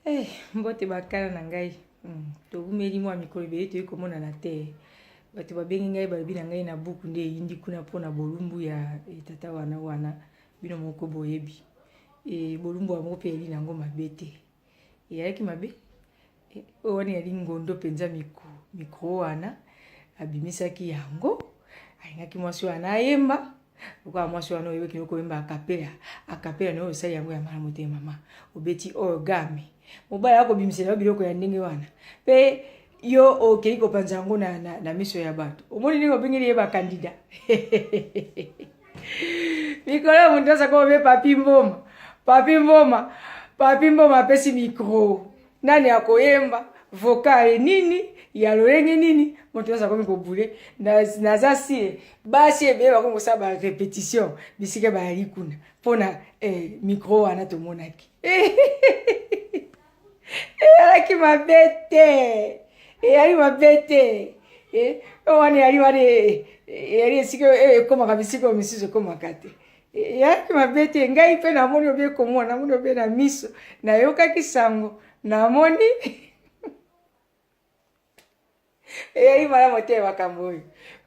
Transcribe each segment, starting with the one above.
Hey, eh, mbote bakala na ngai hmm, towumeli mwa mikolo ebele toyei komonana te bato babengi ngai balobi na ngai na buku nde eyindi kuna mpo na bolumbu ya etata eh, wana wana bino moko boyebi e, bolumbu yango mpe eli na yango mabe te eyalaki mabe Eh, oyo wana yali ngondo mpenza mikro mikro wana abimisaki yango alingaki mwasi wana ayemba lokola mwasi wana oyebi kino koyemba akapela akapela nayo osali yango ya malamu te mama obeti orgame mobali akobimisela yo biloko ya ndenge wana mpe yo okei kopanza yango na, na, na miso ya bato omoni ndenge obengeli ye bakandida mikolo ya moto azako obe papi mboma papi mboma papi mboma apesi mikro nani akoyemba vokale nini ya lolenge nini moto nyonso akomi kobule naza sire basi ebele bakomi kosala barepetition bisika bayali kuna mpo na eh, mikro wana tomonaki eyalaki mabe te eyali mabe te eh, wana eyali wana eh, eyali esika ekomaka bisika oyo misusu ekomaka te eyaki mabe te ngai mpe namoni obe komona namoni obe na miso nayokaki sango namoni eyali malamu te makambo oyo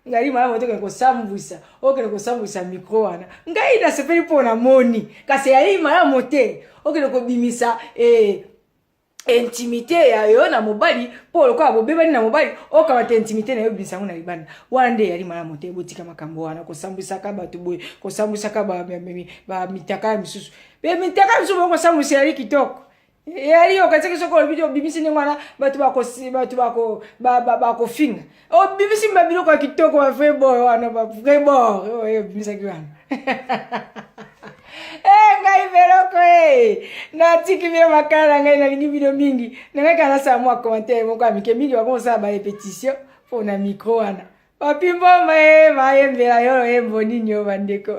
ngai malamu te okende kosambwisa okende kosambwisa mikro wana ngai nasepeli mpo namoni kasi eyali malamu te okende kobimisa eh, intimité ya yo na mobali mpo lokola bobebani na mobali okamata intimité na yo obimisa yango na libanda wana nde eyali malamu te botika makambo wana kosambwisaka bato boye kosambwisaka bamitaka ya misusu mpe mitaka misusu boye kosambwisa eyali kitoko eyali okatiki soki olobi obimisi ndenge wana bato bakofinga obimisi oh, mba biloko ya kitoko ba vrai bor wana ba vrai bor oyo oh, eh, obimisaki wana ee eh, ngai veloko e natiki bino makala na ngai nalingi bino mingi na ngai kanasala mwa commentaire moko ya mike mingi bakosala ba repetition mpo na micro wana bapimboma e bayembela yolo yembo nini yo bandeko